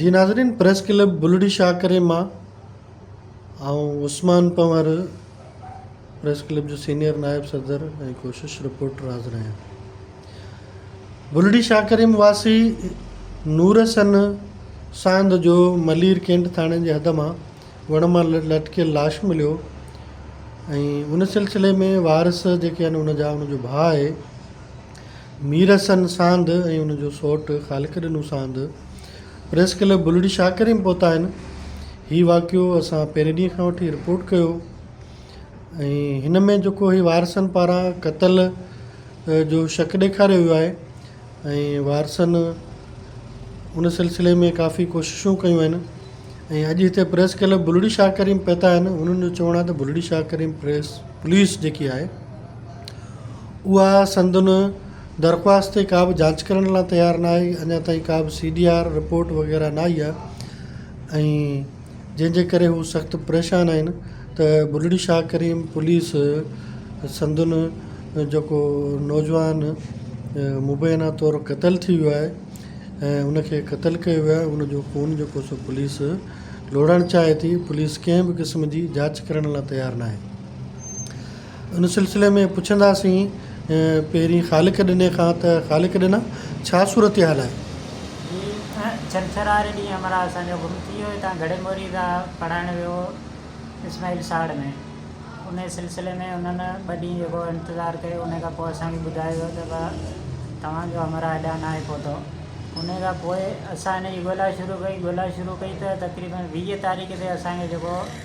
جي ناظرين press club Bulri Shah ڪري مان آئون عثمان پنهور پريس ڪلب جو سينئر نائب صدر ۽ ڪوشش رپورٽر حاضر آهيان بلڙي شاهه ڪريم واسي نور سن ساند جو ملير ڪينٽ ٿاڻي جي حد مان وڻ مان لٽڪيل لاش مليو ۽ ان سلسلي ۾ وارث جيڪي آهن ان جا ان جو ڀاء آهي مير حسن ساند ۽ ان جو سؤٽ خالق ڏنو ساند پريس ڪلب بلڙي شاهڪري ۾ پهتا آهن. هي واقعو اسان پهرين ڏينهن کان وٺي رپورٽ ڪيو ۽ هن ۾ جيڪو هي وارثن پاران قتل جو شڪ ڏيکاريو ويو آهي ۽ وارثن ان سلسلي ۾ ڪافي ڪوششون ڪيون آهن ۽ اڄ هتي پريس ڪلب بلڙي شاهڪري ۾ پهتا آهن انهن جو چوڻ آهي ته بلڙي شاهڪري پريس پوليس جيڪي آهي اها سندن درخواست تي ڪا به جاچ ڪرڻ لاء تيار نه آهي اڃا تائين ڪا به سي ڊي آر رپورٽ وغيره نه آئي آهي ۽ جنهن جي ڪري هو سخت پريشان آهن ته بلڙي شاهه ڪريم پوليس سندن جيڪو نوجوان مبينا طور قتل ٿي ويو آهي ۽ ان کي قتل ڪيو ويو آهي ان جو خون جيڪو سو پوليس لوڙهڻ چاهي ٿي پوليس ڪنهن به قسم جي جاچ ڪرڻ لاء تيار نه آهي ان سلسلي ۾ پڇنداسين پهرين خالق ڏني کان ته خالق ڏنا ڇا صورتحال آهي؟ جي ڇنڇر واري ڏينهن همراهه اسان جو گم ٿي ويو هتان گهڙي موري کان پڙهائڻ ويو هو اسماعيل ساڙ ۾ ان سلسلي ۾ انهن ٻه ڏينهن جيڪو انتظار ڪيو ان کان پوء اسان کي ٻڌايو ويو ته ڀا توهان جو همراهه هيڏانهن ناهي پهتو ان کان پوء اسان ان جي ڳولا شروع ڪئي ڳولا شروع ڪئي ته تقريبن ويهه تاريخ تي اسان کي جيڪو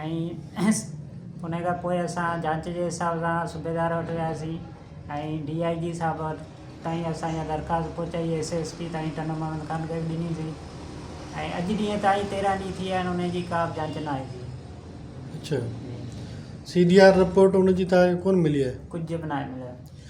۽ ان کان پوء اسان جاچ جي حساب سان صوبيدار وٽ وياسين ۽ ڊي آء جي صاحب وٽ تائين اسان اها درخواست پهچائي ايس ايس پي تائين ٽنڊو مهمد خان کي به ڏني سين ۽ اڄ ڏينهن تائين تيرهن ڏينهن ٿي ويا آهن ان جي ڪا به جاچ ناهي ٿي اڇا سي ڊي آر رپورٽ ان جي تان کي ڪونه ملي آهي ڪجهه به ناهي مليو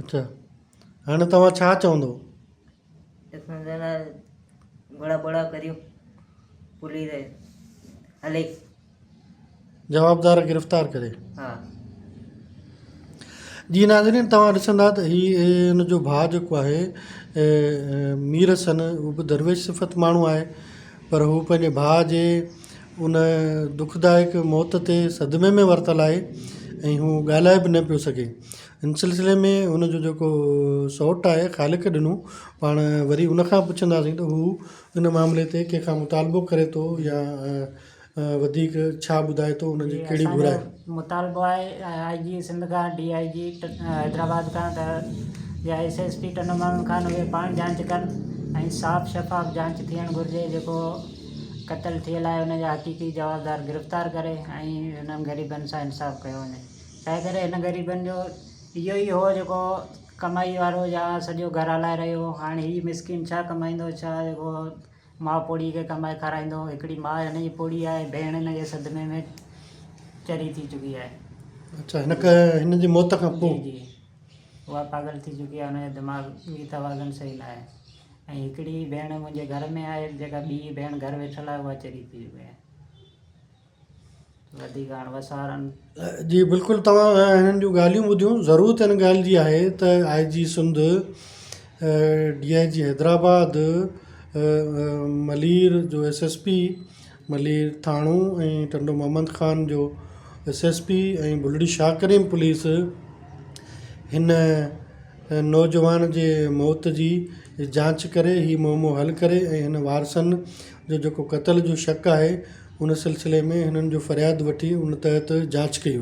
اچا هاڻي توهان ڇا چوندو. اسان جهڙا گهوڙا ٻوڙا ڪريون پوليس هلي. جوابدار گرفتار ڪري. ها. جي ناظرين توهان ڏسندا ته هي هن جو ڀاء جيڪو آهي مير حسن هو به درويش صفت ماڻهو آهي پر هو پنهنجي ڀاء جي ان دکدائڪ موت تي صدمي ۾ ورتل آهي ۽ هو ڳالهائي به نه پيو سگهي ان سلسلي ۾ ان جو جيڪو سوٽ آهي خالق ڏنو پاڻ وري ان کان پڇنداسين ته هو ان معاملي تي ڪنهن کان مطالبو ڪري ٿو يا وڌيڪ ڇا ٻڌائي ٿو ان جي ڪهڙي گهر آهي مطالبو آهي آء جي سنڌ کان ڊي آء جي حيدرآباد کان ته يا ايس ايس پي ٽن ماڻهن کان اهي پاڻ جانچ ڪن ۽ صاف شفاف جانچ ٿيڻ گهرجي جيڪو قتل ٿيل آهي ان جا حقيقي جوابدار گرفتار ڪري ۽ انهن غريبن سان انصاف ڪيو وڃي تنهنڪري هن غريبن جو اهو ئي هو جيڪو ڪمائي وارو يا سڄو گهر هلائي رهيو هو. هاڻ هي مسڪين ڇا ڪمائيندو ڇا جيڪو ماء پوڙهي کي ڪمائي کارائيندو. هڪڙي ماء هن جي پوڙهي آهي ۽ ڀيڻ هن جي صدمي ۾ چري ٿي چڪي آهي. اڇا هنک هن جي موت کان پوء. جي جي اها پاڳل ٿي چڪي آهي هن جو دماغ وي توازن صحيح ناهي ۽ هڪڙي ڀيڻ منهنجي گهر ۾ آهي جيڪا ٻي ڀيڻ گهر ويٺل آهي اها چري ٿي چڪي آهي. وڌيڪ هاڻ وسارن. جي بلڪل توهان هنن جون ڳالهيون ٻڌيون ضرورت ان ڳالهه جي آهي ته آء جي سنڌ ڊي آء جي حيدرآباد ملير جو ايس ايس پي ملير ٿاڻو ۽ ٽنڊو محمد خان جو S S P ۽ Bulri Shah Karim police هن نوجوان جي موت جي جانچ ڪري هي معمو حل ڪري ۽ هن وارثن جو جيڪو قتل جو شڪ آهي ان سلسلي ۾ هنن جو فرياد وٺي ان تحت جاچ ڪئي وڃي.